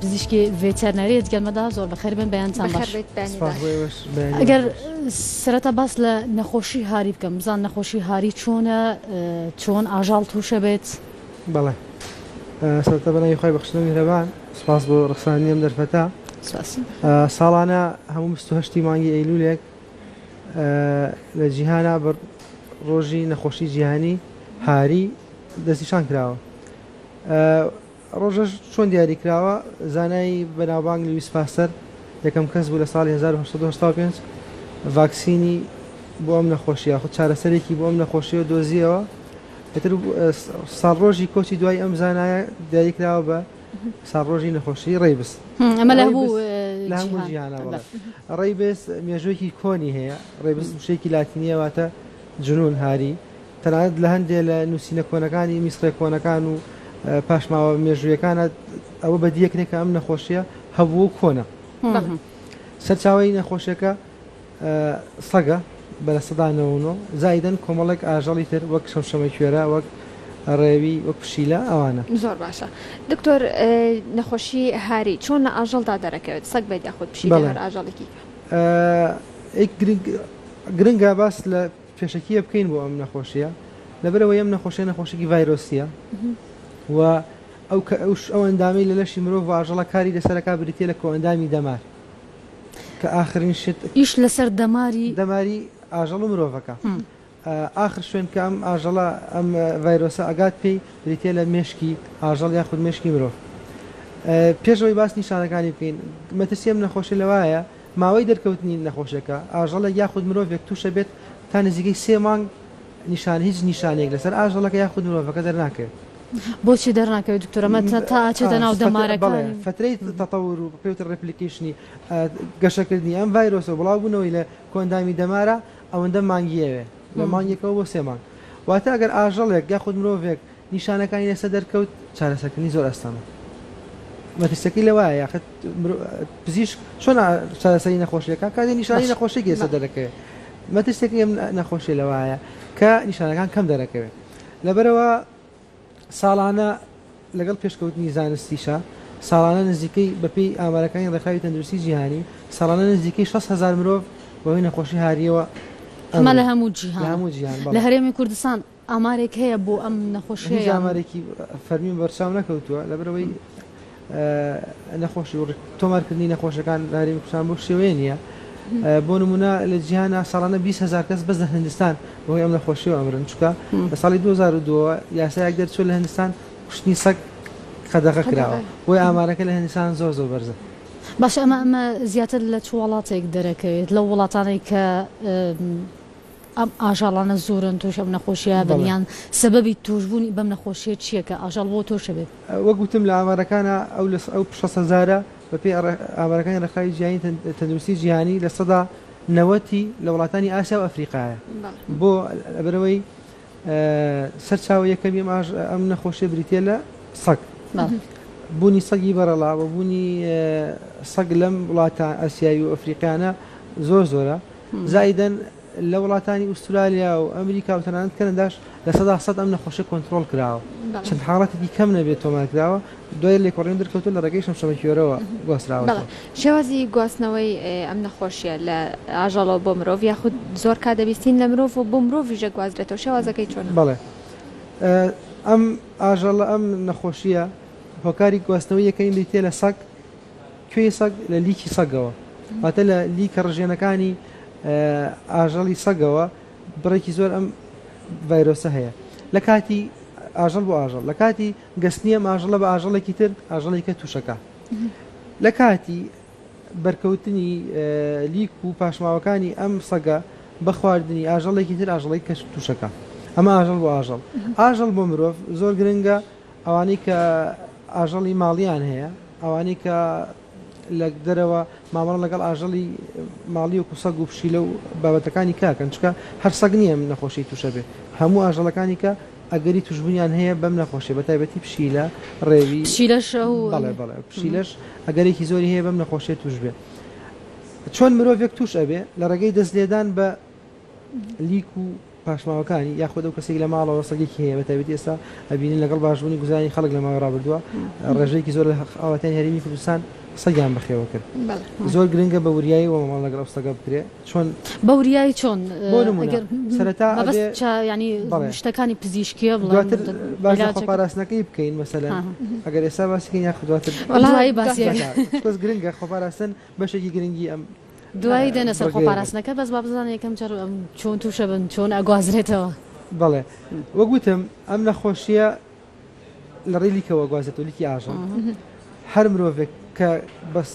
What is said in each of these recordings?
پزیشکی ڤێتەرنەری گەلمەدا زۆر بەخێر بن بەیانتان باش ئەگەر سرەتا باس لە نەخۆشی هاری بکەم بزان نەخۆشی هاری چۆنە چۆن ئاژاڵ تووشە بێت بەڵێ سەرتە بەناوی خۆی بەخشنە میهرەبان سپاس بۆ ڕخسانی ئەم دەرفەتە ساڵانە هەموو هەشتی مانگی ئەیلولێک لە جیهانا بە ڕۆژی نەخۆشی جیهانی هاری دەستیشان کراوە ڕۆژەش چۆن دیاری کراوە؟ زانای بەناوبانگ لویس پاستەر یەکەم کەس بوو لە ساڵی هەزار و هەشت سەد و هەشتا و پێنج ڤاکسینی بۆ ئەم نەخۆشییە یاخود چارەسەرێکی بۆ ئەم نەخۆشییە دۆزییەوە. ئیتر ساڵڕۆژی کۆچی دوای ئەم زانایە دیاری کراوە بە ساڵڕۆژی نەخۆشیی ڕەیبس. ئەمە لە هەموو جیهانە، بەڵێ. ڕەیبس مێژووێکی کۆنی هەیە. ڕەیبس وشەیەکی لاتینییە واتە جنوون، هاری. تەنانەت لە هەندێ لە نووسینە کۆنەکانی میسڕیە کۆنەکان و پاشماوە مێژوویەکانە ئەوە بەدیەکرێ کە ئەم نەخۆشیە هەبوو و کۆنە سەرچاوی نەخۆشیەکە سەگە بە لە سەدانەوەۆ زایدن کۆمەڵێک ئاژەڵی تر وەک شەمشەمە کوێرە وەک ڕێوی وەک پشیلە ئەوانە زۆر باشە دکتۆر نەخۆشی هاری چۆن لە ئاژەڵدا دەرەکەوێت سەگ بێت یاخود پشی ئاژەڵێکی گرنگە باس لە پێشەکیە بکەین بۆ ئەم نەخۆشیە لەبەرەوەی ئەم نەخۆشیە نەخۆشیکی ڤایرۆسیە و ئەو کە ئەوش ئەو ئەندامی لە لەشی مرۆڤ واژەڵە کاری لەسەرەکە بریتە لە کۆئەندامی دەمار کە ئاخرین شت ئیش لەسەر دەماری دەماری ئاژەڵ و مرۆڤەکە ئاخر شوێن کە ئەم ئاژەڵە ئەم ڤایرۆسە ئەگات پێی بریتە لە مێشکی ئاژەڵ یا خود مێشکی مرۆڤ پێشەوەی باس نیشانەکانی بکەین مەترسیم نەخۆشی لەوایە ماوەی دەرکەوتنی نەخۆشیەکە، ئاژەڵێک یاخود مرۆڤێک تووشە بێت تا نزیکەی سێ مانگ نیشان هیچ نیشانەیەک لەسەر ئاژەڵەکە یاخود مرۆڤەکە دەرناکەوێت. بۆچی دەرناکەوێت دکتۆر ئەمە تا ئاچێتە ناو دەمارەکانی؟ بەڵێ فەترەی تەتەور و پێوترێ ڕێپلیکەیشنی گەشەکردنی ئەم ڤایرۆسە بڵاو بوونەوەی لە کۆئەندامی دەمارە ئەوەندە مانگی ئەوێ لە مانگێکەوە بۆ سێ مانگ واتە ئەگەر ئاژەڵێک یاخود مرۆڤێک نیشانەکانی لەسەر دەرکەوت چارەسەرکردنی زۆر ئاستانە مەترسیەکەی لەوایە یاخت پزیشک چۆن چارەسەری نەخۆشیەکە کاتی نیشانی نەخۆشی گێسە دەرەکەوێت مەترسێکی ئەم نەخۆشی لەوایە کە نیشانەکان کەم دەرەکەوێت لەبەرەوە ساڵانە لەگەڵ پێشکەوتنی زانستیشە ساڵانە نزیکەی بەپی ئامارەکانی ڕێکخراوی تەندروستی جیهانی ساڵانە نزیکەی 6هزار مرۆڤ بەوەی نەخۆشی هاریەوە ئەمە لە هەموو جیهان لە هەموو جیهان لە هەرێمی کوردستان ئامارێک هەیە بۆ ئەم نەخۆشیە یان؟ هیچ ئامارێکی فەرمی بەرچاو نەکەوتووە لەبەرئەوەی نەخۆشی و تۆمارکردنی نەخۆشەکان لە هەرێمی کوردستان بەو شێوەیە نییە بۆ نمونە لە جیهانا ساڵانە 20 هزار کەس بەس لە هندستان بەهۆی ئەم نەخۆشیەوە ئەمرن چکە لە ساڵی 2002 یاسایەک دەرچوە لە هندستان کوشتنی سەگ قەدەغە کراوە بۆی ئامارەکە لە هندستان زۆر زۆر بەرزە باش ئەمە ئەمە زیاتر لە چ وڵاتێک دەرەکەوێت لە وڵاتانێک کە ئەم ئاژەڵانە زۆرن توش ئەم نەخۆشیە بن یان سەبەبی توش بونی بەم نەخۆشیە چیە کە ئاژەڵ بۆ توش ئەبێت؟ وەک وتم لە ئامارەکانا ئەو لە ئەو شەست هەزارە بەپێی ئامارەکانی ڕێکخراوی جیهانی تەندروستی جیهانی لە سەدا نەوەتی لە وڵاتانی ئاسیا و ئەفریقایە بۆ لەبەرئەوەی سەرچاوە یەکەمی ئەم ئاژ ئەم نەخۆشیە بریتە لە سەگ بونی سەگی بەڕەڵا بە بونی سەگ لەم وڵاتە ئەسیاوی و ئەفریقیانە زۆر زۆرە زایدەن لە وڵاتانی ئوسترالیا و ئەمریکا و تەنانەت کەنەداش لە سەدا سەد ئەم نەخۆشیە کۆنتڕۆڵ کراوە، چەند حاڵەتێکی کەم نەبێت تۆمار کراوە، دوای لێکۆڵینەوە دەرکەوتووە لە ڕێگەی شەمشەمەکوێرەوە گواستراوەتەوە. شێوازی گواستنەوەی ئەم نەخۆشیە لە ئاژەڵەوە بۆ مرۆڤ یاخود زۆر کات دەبیستین لە مرۆڤ و بۆ مرۆڤیش دەگوازرێتەوە، شێوازەکەی چۆنە؟ بەڵێ ئەم ئاژەڵە ئەم نەخۆشیە هۆکاری گواستنەوەی یەکەمی بریتیە لە سەگ، کوێی سەگ لە لیکی سەگەوە واتە لە لیکە ڕژێنەکانی ئاژەڵی سەگەوە بڕێکی زۆر ئەم ڤایرۆسە هەیە لە کاتی ئاژەڵ بۆ ئاژەڵ لە کاتی گەستنی ئەم ئاژەڵە بە ئاژەڵێکی تر ئاژەڵێکە تووشەکە لە کاتی بەرکەوتنی لیک و پاشماوەکانی ئەم سەگە بە خواردنی ئاژەڵێکی تر ئاژەڵی کەش تووشەکە ئەمە ئاژەڵ بۆ ئاژەڵ ئاژەڵ بۆ مرۆڤ زۆر گرنگە ئەوانەی کە ئاژەڵی ماڵیان هەیە، ئەوانەی کە لە دەرەوە مامەڵە لەگەڵ ئاژەڵی ماڵی وەکو سەگ و پشیلە و بابەتەکانی کاکەن، چونکە هەر سەگ نییە ئەم نەخۆشیەی تووشە بێت، هەموو ئاژەڵەکانی کە ئەگەری تووشبوونیان هەیە بەم نەخۆشیە بە تایبەتی پشیلە، ڕێوی، پشیلەش ئەو، بەڵێ بەڵێ پشیلەش ئەگەرێکی زۆری هەیە بەم نەخۆشیە تووش بێت. چۆن مرۆڤێک تووش ئەبێ لە ڕێگەی دەست لێدان بە. لیک و پاشماوەکانی یاخود ئەو کەسێک لە ماڵەوە سەگێکی هەیە بەتابێتی ئێستا ئەبینین لەگەڵ باشبوونی گوزارانی خەڵک لە ماوەی ڕابردووە ڕێژەیەکی زۆر ئاواتیان هەرمی کوردستان سەگیان بەخێوە کرد زۆر گرنگە بە وریایی وە ماڵ لەگەڵ ئەوسەگە بکرێت چۆن بە وریایی چۆن سەرتا ینی شتەکانی پزیشکیە بڵاتر باش پاراستنەکەی بکەین مەسەلا ئەگەر ئێستا باسیکە یاخ دواتر گرنگە خۆپاراستن بەشێکی گرنگی ئەم دوایی دێنە سەر خۆپاراستنەکە بەس با بزانن یەکەم جار چۆن تووشە بن چۆن ئەگوازرێتەوە. بەڵێ وەک وتم ئەم نەخۆشییە لە ڕێی لیکەوە ئەگوازێتەوە لیکی ئاژەڵ هەر مرۆڤێک کە بەس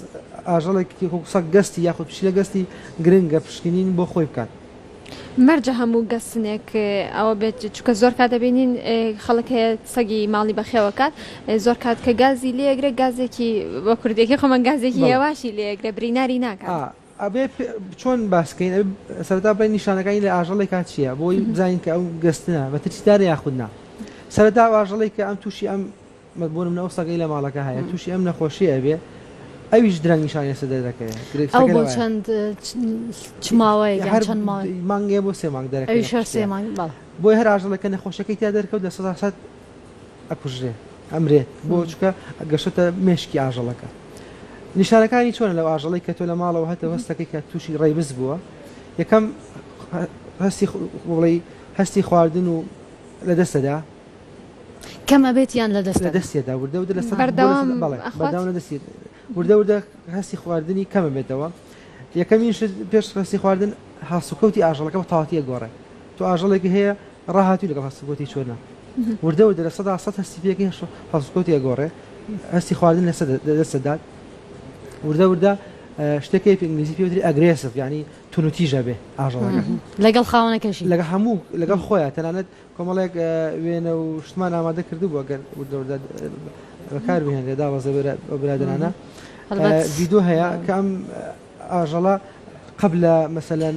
ئاژەڵێک سەگ گەستی یاخود پشیلە گەستی گرنگە پشکنین بۆ خۆی بکات مەرجە هەموو گەسنێک ئەوە بێت چکە زۆر کات دەبینین خەڵک هەیە سەگی ماڵی بەخێوەکات زۆر کات کە گازی لێگرێ گازێکی بە کوردێکی خۆمان گازێکی هێواشی لێگرێ بریناری ناکات. ئەبێ چۆن باسکەین سەرتا بڵێن نیشانەکانی لە ئاژەڵێک کات چییە بۆی بزانین کە ئەو گەستە بە ترسیدار یاخود نا سەرتا ئاژەڵێک کە ئەم تووشی ئەم وەک بۆ نمونە ئەو سەگەی لە ماڵەکە هەیە توشی ئەم نەخۆشیە ئەبێ ئەویش درەنگ نیشانی لەسەر دەردەکەوێت ئەو بۆ چەند چ ماوەیەک یان چەند مانگێ بۆ سێ مانگ دەرەکەوێت ئەویش هەر سێ مانگ بەڵێ بۆیە هەر ئاژەڵەکە نەخۆشەکەی تیا دەرکەوت لە سەدا سەد ئەکوژرێت ئەمرێت بۆ چکە گەشتە مێشکی ئاژەڵەکە نیشانەکانی چۆنە لەو ئاژەڵی کە تۆ لە ماڵەوە هەتە هەستەکەی کە تووشی ڕێبز بووە یەکەم هەستی بڵی هەستی خواردن و لە دەستەدا کەم ئەبێت یان لە دەست ئەدا؟ لەدەستیدا وردە وردە لەسەر بەردەوام بەردەوام لەدەستی وردە وردە هەستی خواردنی کەم بێتەوە یەکەمین شت پێش هەستی خواردن هەڵسوکەوتی ئاژەڵەکە بە تاواتیە گۆڕێ تو ئاژەڵێکی هەیە ڕاهاتی لەگەڵ هەستگۆتی چۆنا وردە وردە لە سەدا سە هەستی پێکی هەش هەڵسکۆتی ئەگۆڕێ هەستی خواردن لە دەسەدات وردە وردە شتەکەی پێنگلیزی پێوتری ئەگرێسف ینی تونوتیژە بێ ئاژەڵەکە لەگەڵ خاونەکەشی لەگە هەموو لەگەڵ خۆیان تەنانەت کۆمەڵێک وێنە و شتمان ئامادە کردبوو ئەگەر وردەوردە بەکار بهێنرێ دابەزێ بۆ برادەرانە ڤیدۆ هەیە کە ئەم ئاژەڵە قەب لە مەسەلەن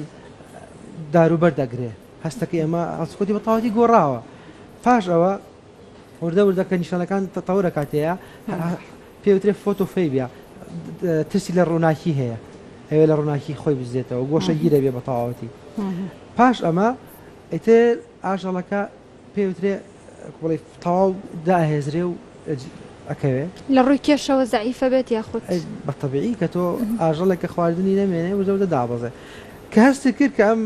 داروبەر دەگرێ هەستەکە ئێمە ئەسکوتی بە تاوەتی گۆڕاوە پاش ئەوە وردە وردە کە نیشانەکان تەتەورە کاتەیە پێوترێ فۆتۆفەیبیا ترسی لە ڕووناکی هەیە ئەوێ لە ڕووناکی خۆی بزێتەوە گۆشەگیرە بێ بە تەواوەتی پاش ئەمە ئیتر ئاژەڵەکە پێی وترێ بڵێ تەواو دائەهێزرێ و ئەکەوێ. لە ڕووی کێشەوە زەعیفە بێت یاخود؟ ئەی بە تەبیعی کە تۆ ئاژەڵێک کە خواردنی نەمێنێ وردە وردە دابەزێ. کە هەستی کرد کە ئەم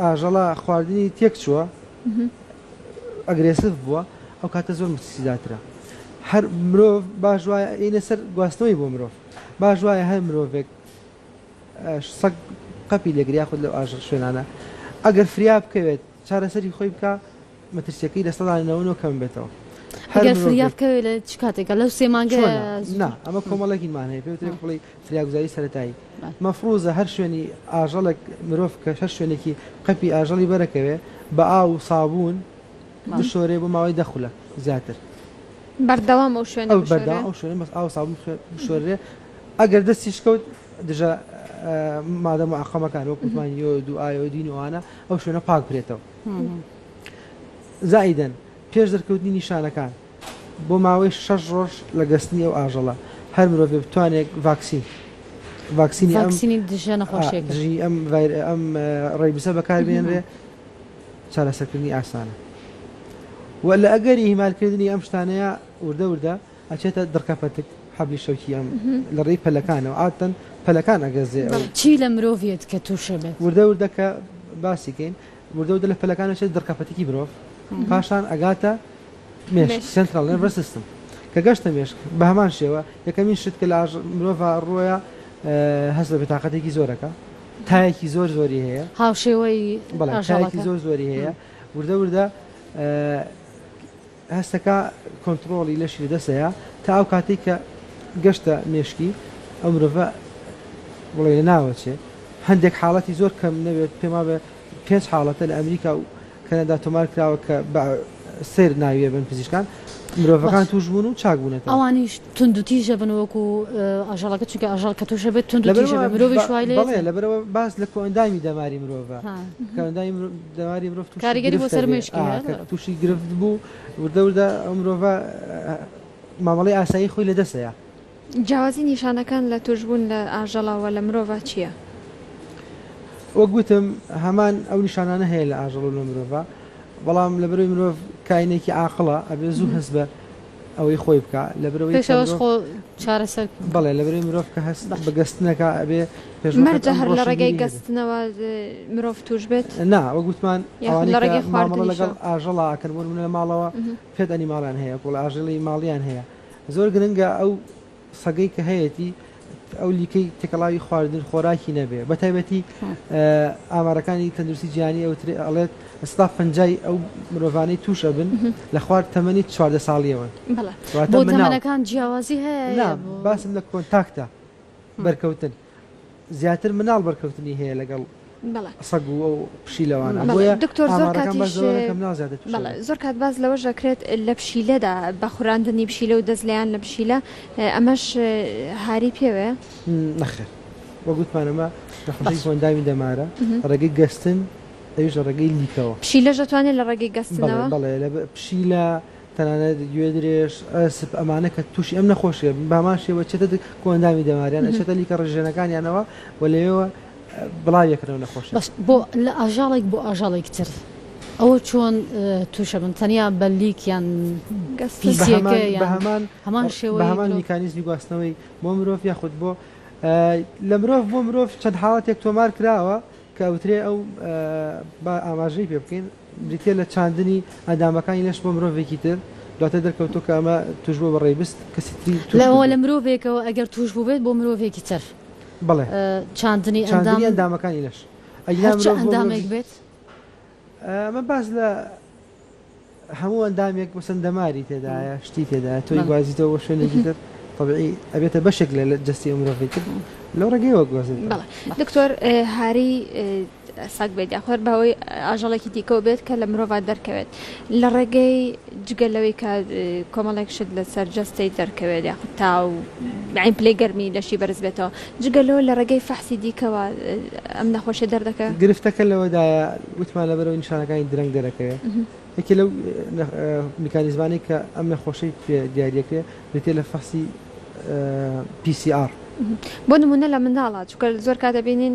ئاژەڵە خواردنی تێک چووە ئەگرێسڤ بووە ئەو کاتە زۆر متسیداترە. هەر مرۆڤ باش وایە ئینە سەر گواستنەوەی بۆ مرۆڤ باش وایە هەر مرۆڤێک سەگ قەپی لێگر یاخود لەو ئاژەڵ شوێنانە ئەگەر فریا بکەوێت چارەسەری خۆی بکە مەترسیەکەی لە سەدا نەوەنەوە کەم بێتەوە هەر فریا بکەوێت لە چ کاتێکە لەو سێ مانگە نا ئەمە کۆمەڵێکی مانەیە پێ بڵی فریاگوزاری سەتایی مەفروزە هەر شوێنی ئاژەڵێک مرۆڤ کە هەر شوێنێکی قەپی ئاژەڵی بەرەکەوێ بە ئاو و سابوون بشۆرێ بۆ ماوەی دەخولە زیاتر بەردەوام ئەو شوێن بەردەوام ئەو شوێن بەس ئاو سابوون بشۆرێ ئەگەر دەستیش کەوت دژە مادە معقەمەکان وەک وتمان یۆد و ئایۆدین و ئانا ئەو شوێنە پاک برێتەوە زائیدەن پێش دەرکەوتنی نیشانەکان بۆ ماوەی شەش ڕۆژ لە گەستنی ئەو ئاژەڵە هەر مرۆڤ بتوانێت ڤاکسین ڤاکسینی ئەمسینی دژە نەخۆشیەکەژی ئەم ئەم ڕێبیسە بەکاربێنرێ چارەسەکردنی ئاسانە وە لە ئەگەری هیمالکردنی ئەم شتانەیە وردە وردە ئەچێتە دڕکە پەتک حەبلی شەوکی ئەم لە ڕێی پەلەکانەوە عادەتەن پەلەکان ئەگەزێ ئەو. چی لە مرۆڤ یەت کە تووشە بێت؟ وردە وردە کە باسی کەین وردە وردە لە پەلەکان ئەچێتە دڕکە پەتکی مرۆڤ پاشان ئەگاتە مێشک Central Nervous System کە گەشتە مێشک بە هەمان شێوە یەکەمین شت کە لە ئاژ مرۆڤا ڕووەیە هەست بە بێتاقەتێکی زۆر ئەکا تایەکی زۆر زۆری هەیە هاوشێوەی بەڵێ تایەکی ئاژەڵەکە. زۆر زۆری هەیە وردە وردە هەستەکە کۆنتڕۆڵی لەشی لە دەست ئەیا تا ئەو کاتەی کە گەشتە مێشکی ئەو مرۆڤە بڵێ لە ناو ئەچێ هەندێک حاڵەتی زۆر کەم نەبێت پێم وابێ پێنج حاڵەتە لە ئەمریکا و کەنەدا تۆمار کراوە کە بە سەیر ناوی ئەبەن پزیشکان مرۆڤەکان باش تووش بوون و چاک بوونەتەوە. ئەوانیش توندوتیژ ئەبن وەکو ئاژەڵەکە چونکە ئاژەڵ کە تووش ئەبێت توندوتیژ ئەبێت لەبەرئەوە مرۆڤیش وای با لێ بەڵێ ئەتێ. لەبەرئەوە باس لە کۆئەندامی دەماری مرۆڤە ها. کۆئەندامی مرۆ دەواری مرۆڤ تووشی گرفت دەبێ کە تووشی گرفت بوو وردە وردە ئەو مرۆڤە مامەڵەی ئاسایی خۆی لەدەست دەیا. جیاوازی نیشانەکان لە تووشبوون لە ئاژەڵە و لە مرۆڤا چییە؟ وەک وتم هەمان ئەو نیشانانە هەیە لە ئاژەڵ و لە مرۆڤا بەڵام لەبەرەوەی مرۆڤ کاینێکی عاقڵە ئەبێ زوو هەست بە ئەوەی خۆی بکا لەبرەوەی پێش ئەوەش خۆ چارەسەر بکە. بەڵێ لەبرەوەی مرۆڤ کە هەست بە گەستنەکە ئەبێ پێش وەخت مەرجە هەر لە ڕێگای ڕۆشنبیری هەبێ. گەستنەوە مرۆڤ تووش بێت؟ نا وەک وتمان یاخود ئەوانەی لە کە ڕێگەی مامەڵە خواردنیشەوە؟ لەگەڵ ئاژەڵا ئەکەن بۆ نموونە لە ماڵەوە پێت ئەنیماڵیان هەیە وەکوڵ ئاژەڵی ماڵیان هەیە زۆر گرنگە ئەو سەگەی کە هەیەتی ئەو لیکەی تێکەڵاوی خواردن خۆراکی نەبێ بە تایبەتی ئامارەکانی تەندروستی جیانی ئەوترێ ئەڵێت ستا پنجای ئەو مرۆڤانەی تووشە بن لە خوارد تەمەنی چواردە ساڵیەوە بەڵێ تەمەەکان جیاوازی هەیە باسم لە کۆنتاکتە بەرکەوتن زیاتر مناڵ بەرکەوتنی هەیە لەگەڵ سەگ و ئەو پشیلەوانە بۆیە ئامارەکان باس لەوە دەکەن مناڵ زیاتر تووش دەبن. زۆر کات باس لەوەش دەکرێت لە پشیلەدا بە خوراندنی پشیلە و دەست لێیان لە پشیلە ئەمەش هاری پێوەیە؟ نەخێر وەک وتمان ئەمە نەخۆشیەکی ئەندامی دەمارە لە ڕێگەی گەستن ئەویش لە ڕێگەی لیکەوە. پشیلەش دەتوانێت لە ڕێگەی گەستنەوە؟ بەڵێ بەڵێ پشیلە. تەنانەت گوێ درێژ، ئەسپ، ئەمانە کە تووشی ئەم نەخۆشییە بن بە هەمان شێوە چێتە دەک و ئەندامی دەماریان، ئەچێتە لیکە ڕژێنەکانیانەوە و لەوێوە بڵاوی ئەکەن ئەو نەخۆشییە. بەس بۆ لە ئاژەڵێک بۆ ئاژەڵێک تر ئەوە چۆن تووش ئەبن؟ تەنیا بە لیک یان پیسییەکە یان هەمان شێوەی مرۆڤ؟ بە هەمان میکانیزمی گواستنەوەی بۆ مرۆڤ یاخود بۆ لە مرۆڤ بۆ مرۆڤ چەند حاڵەتێک تۆمار کراوە کە ئەوترێ ئەو با ئاماژەی پێ بکەین. بریتییە لە چاندنی ئەندامەکانی لەش بۆ مرۆڤێکی تر، دواتر دەرکەوتووە کە ئەمە تووشبووە بە ڕێیبست، کەسی تری تووش بووبێت. لە مرۆڤێکەوە ئەگەر تووش بووبێت بۆ مرۆڤێکی تر چاندنی ئەندام. چاندنی ئەندامەکانی لەش. هەر چ ئەندامێک بێت. ئەمە باس لە هەموو ئەندامێک مەسەن دەماری تێدایە، شتی تێدایە، تۆی گوازیتەوە بۆ شوێنێکی تر، تەبیعی ئەبێتە بەشێک لە جەستەی ئەو مرۆڤەی تر، لەو ڕێگەیەوە گوازرێتەوە. دکتۆر، هارەی ساک بێت یا خوێر بە هۆی ئاژەڵێکی دیکەوە بێت کە لە مرۆڤ دەرکەوێت لە ڕێگەی جگە لەوەی کە کۆمەڵێک شت لەسەر جەستەی دەرکەوێت یا تا و عین پلەی گەرمی لەشی بەرز بێتەوە جگە لەوە لە ڕێگەی فەحسی دیکەوە ئەم نەخۆشیە دەردەکە گرفتەکە لەوەدایە وتمان لەبەرەوە نیشانەکانی درەنگ دەرەکەوێت یەکێ لەو میکانیزمانەی کە ئەم نەخۆشی دیارەکە بریتێ لە فەحسی PCR بۆ نمونە لە منداڵە چکە زۆر کا دەبینین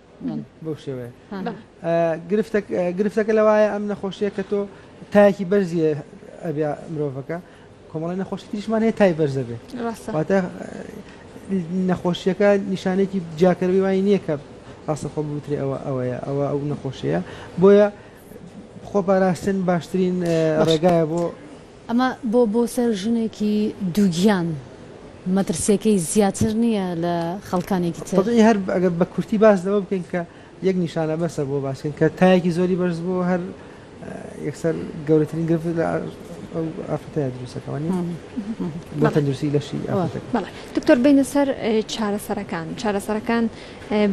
بەو شێوەیە گرفتەکە لەوایە ئەم نەخۆشیە کە تۆ تایەکی بەرزیە ئەبیا مرۆڤەکە کۆمەڵی نەخۆشی تریشمان هەیە تای بەرزە بێت واتە نەخۆشیەکە نیشانێکی جیاکەروی وای نییە کە ڕاستە خۆ بوترێ ئەوە ئەوەیە ئەوە ئەو نەخۆشیە بۆیە خۆ پاراستن باشترین ڕێگایە بۆ ئەمە بۆ بۆ سەر ژنێکی دووگیان مەترسیەکەی زیاتر نیە لە خەڵکانێکی تر؟ تەبیعی هەر ئەگەر بە کورتی باس لەوە بکەین کە یەک نیشانە بەسە بۆ باس کردن کە تایەکی زۆری بەرز بووە هەر یەکسەر گەورەترین گرفت لە ئەو ئافرەتەیە دروست دەکا وانیە؟ بۆ تەندروستی لەشی ئافرەتەکە. بەڵێ دکتۆر بێینە سەر چارەسەرەکان چارەسەرەکان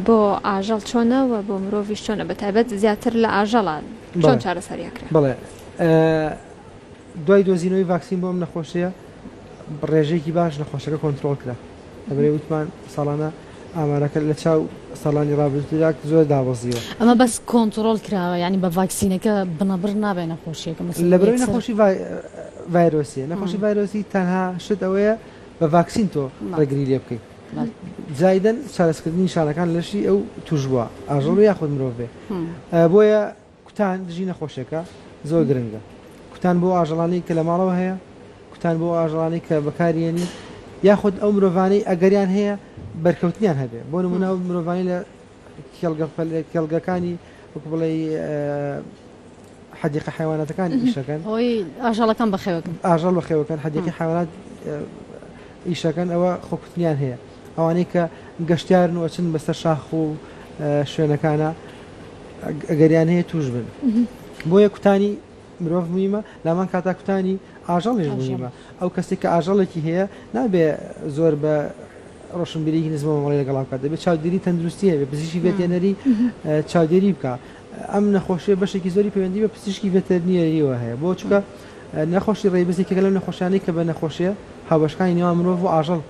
بۆ ئاژەڵ چۆنە و بۆ مرۆڤیش چۆنە بەتایبەت زیاتر لە ئاژەڵە چۆن چارەسەری ئەکرێ؟ بەڵێ. دوای دۆزینەوەی ڤاکسین بۆ ئەم نەخۆشیە بەڕێژەیەکی باش نەخۆشەکە کۆنترۆڵ کرا لەبەرەی وتمان ساڵانە ئامارەکە لە چاو ساڵانی ڕابردوودا زۆر دابەزیوە ئەمە بەس کۆنترۆل کراوە ینی بە ڤاکسینەکە بنەبڕ نابێ نەخۆشیەکە لە بەرەی نەخۆشی ڤایرۆسیە نەخۆشی ڤایرۆسی تەنها شت ئەوەیە بە ڤاکسین تۆ ڕێگری لێ بکەیت زایدن شارستکردنی شارەکان لەشی ئەو توش بووە ئاژەڵ یاخود مرۆڤێ بۆیە کوتان دژی نەخۆشێکە زۆر گرنگە. کوتان بۆ ئەو ئاژەڵانەی کە لە ماڵەوە هەیە، کوتان بۆ ئەو ئاژەڵانەی کە بەکاریێنی، یاخود ئەو مرۆڤانەی ئەگەریان هەیە بەرکەوتنیان هەبێ، بۆ نموونە ئەو مرۆڤانەی لە کێڵگە فەلە کێڵگەکانی وەکو بڵێی حەدیقە حەیواناتەکان ئیشەکەن هۆی ئاژەڵەکان بەخێوەکەن ئاژەڵ بەخێوەکەن حەدیقی حەیوانات ئیشەکەن ئەوە خۆکوتنیان هەیە. ئەوانەی کە گەشتیارن و ئەچن بەسەر شاخ و شوێنەکانە ئەگەریان هەیە توش بن بۆیە کوتانی مرۆڤ مویمە لامان کاتا کوتانی ئاژەڵیش مویمە ئەو کەسێک کە ئاژەڵێکی هەیە نابێ زۆر بە ڕۆشنبیریی نزمەوەڵی لەگەڵا بکات دەبێت چاودێری تەندروستی هەبێ پزیشی بێتێنەری چاودێری بکە ئەم نەخۆشیە بەشێکی زۆری پەیوەندی بە پزیشکی بێتەرنیەریەوە هەیە بۆ چکە نەخۆشی ڕێبزیکەگە لەم نەخۆشیانەی کە بە نەخۆشیە هاوبەشکانی نێوان مرۆڤ و ئاژەڵ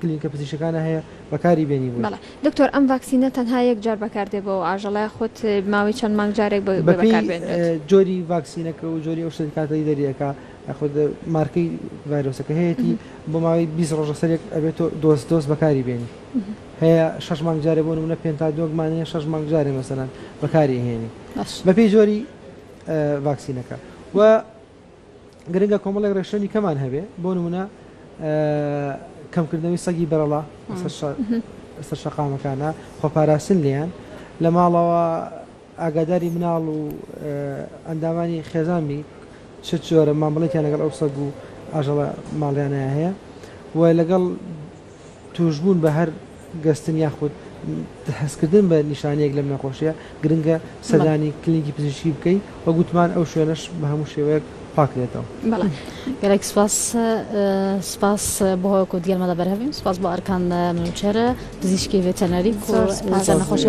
کلینکە پزیشکەکانە هەیە بەکاری بێنی بۆی. بەڵێ دکتۆر ئەم ڤاکسینە تەنها یەک جار بەکار دێ بۆ ئەو ئاژەڵە یاخود ماوەی چەند مانگ جارێک بەکار بێنرێت؟ بەپێی جۆری ڤاکسینەکە و جۆری ئەو شتەی کاتەی دەری ئەکا یاخود مارکەی ڤایرۆسەکە هەیەتی بۆ ماوەی بیست ڕۆژ لەسەرێک ئەبێت تۆ دۆز دۆز بەکاری بێنی هەیە شەش مانگ جارێ بۆ نموونە پێنتادۆگمان هەیە شەش مانگ جارێ مەسەلەن بەکاری ئەهێنی بەپێی جۆری ڤاکسینەکە و گرنگە کۆمەڵێک ڕێکشەنی کەمان هەبێ بۆ نمونە کەمکردنەوەی سەگی بەرەڵا سەر شەقامەکانە خۆپاراستن لێیان لە ماڵەوە ئاگاداری مناڵ و ئەندامانی خێزانمی چ جۆرە مامەڵێکیان لەگەڵ ئەو سەگ و ئاژەڵە ماڵیانە هەیە و لەگەڵ تووشبوون بە هەر گەستن یاخود هەستکردن بە نیشانەیەک لەم نەخۆشییە، گرنگە سەردانی کلینیکی پزیشکی بکەیت و گوتمان ئەو شوێنەش بە هەموو شێوەیەک پاکدێتەوە. بەڵێ گەلێک سوپاس. سوپاس بۆ هۆکو دیەلمە دە بەرهەڤیم. سوپاس بۆ ئەرکان منوچەر پزیشکی ڤێتەرنەری کو لەسەر نەخۆشی.